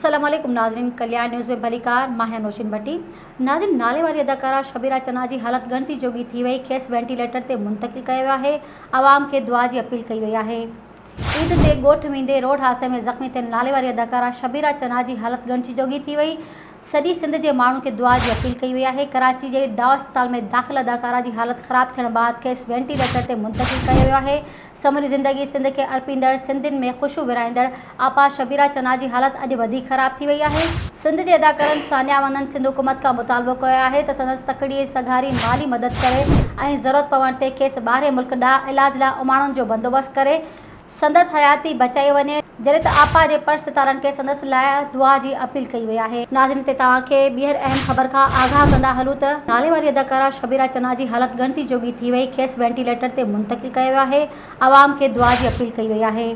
السلام عليڪم ناظرين ڪليان نيوز ۾ ڀليڪار مان هيان نوشين ڀٽي ناظرين ناليواري اداڪارا شبيرا چنا جي حالت ڳڻتي جوڳي ٿي وئي کيس وينٽيليٽر تي منتقل ڪيو ويو آهي عوام کي دعا جي اپيل ڪئي وئي آهي عيد تي ڳوٺ ويندي روڊ حادثي ۾ زخمي ٿيل ناليواري اداڪارا شبيرا چنا جي حالت ڳڻتي جوڳي ٿي وئي سڄي سنڌ جي ماڻهن کي دعا جي اپيل ڪئي وئي آهي ڪراچي جي ڊاء اسپتال ۾ داخل اداڪارا جي حالت خراب ٿيڻ بعد کيس وينٽيليٽر تي منتقل ڪيو ويو آهي سموري زندگي سنڌ کي اڻپيندڙ سنڌين ۾ خوشيون ورهائيندڙ آپا شبيرا چنا جي حالت اڄ وڌيڪ خراب ٿي وئي آهي سنڌ جي اداڪارن ثانيا ونند سنڌ حڪومت کان مطالبو ڪيو آهي ته سندس تڪڙي سگهاري مالي مدد ڪري ۽ ضرورت پوڻ تي کيس ٻاهرين ملڪ ڏانهن علاج لاء اماڻڻ جو بندوبست ڪري سندس حياتي بچائي وڃي. جڏهن ته آپا جي پڙ ستارن کي سندس لاء دعا جي اپيل ڪئي وئي آهي. ناظرين تي توهان کي ٻيهر اهم خبر کان آگاهه ڪندا هلون ته. ناليواري اداڪارا شبيرا چنا جي حالت ڳڻتي جوڳي ٿي وئي، کيس وينٽيليٽر تي منتقل ڪيو ويو آهي، عوام کي دعا جي اپيل ڪئي وئي آهي.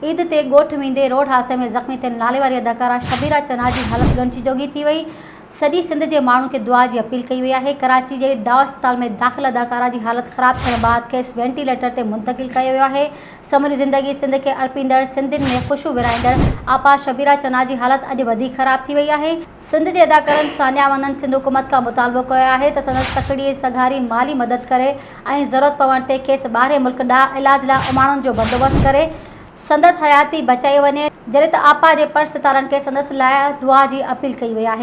عيد تي ڳوٺ ويندي روڊ حادثي ۾ زخمي ٿيل ناليواري اداڪارا شبيرا چنا جي حالت ڳڻتي جوڳي ٿي وئي، سڄي سنڌ جي ماڻهن کي دعا جي اپيل ڪئي وئي آهي، ڪراچي جي ڊاء اسپتال ۾ داخل اداڪارا جي حالت خراب ٿيڻ بعد کيس وينٽي ليٽر تي منتقل ڪيو ويو آهي، سموري زندگي سنڌ کي اڻپيندڙ، سنڌين ۾ خوشيون ورهائيندڙ آپا شبيرا چنا جي حالت اڄ وڌيڪ خراب ٿي وئي آهي، سنڌ جي اداڪارن سانيا ونن سنڌ حڪومت کان مطالبو ڪيو آهي ته سندس تڪڙي سگهاري مالي مدد ڪري ۽ ضرورت پوڻ تي کيس ٻاهرين ملڪ ڏانهن علاج لاء اماڻڻ جو بندوبست ڪري سندس حياتي بچائي وڃي، جڏهن ته آپا جي پڙ ستارن کي سندس لاء دعا جي اپيل ڪئي وئي آهي.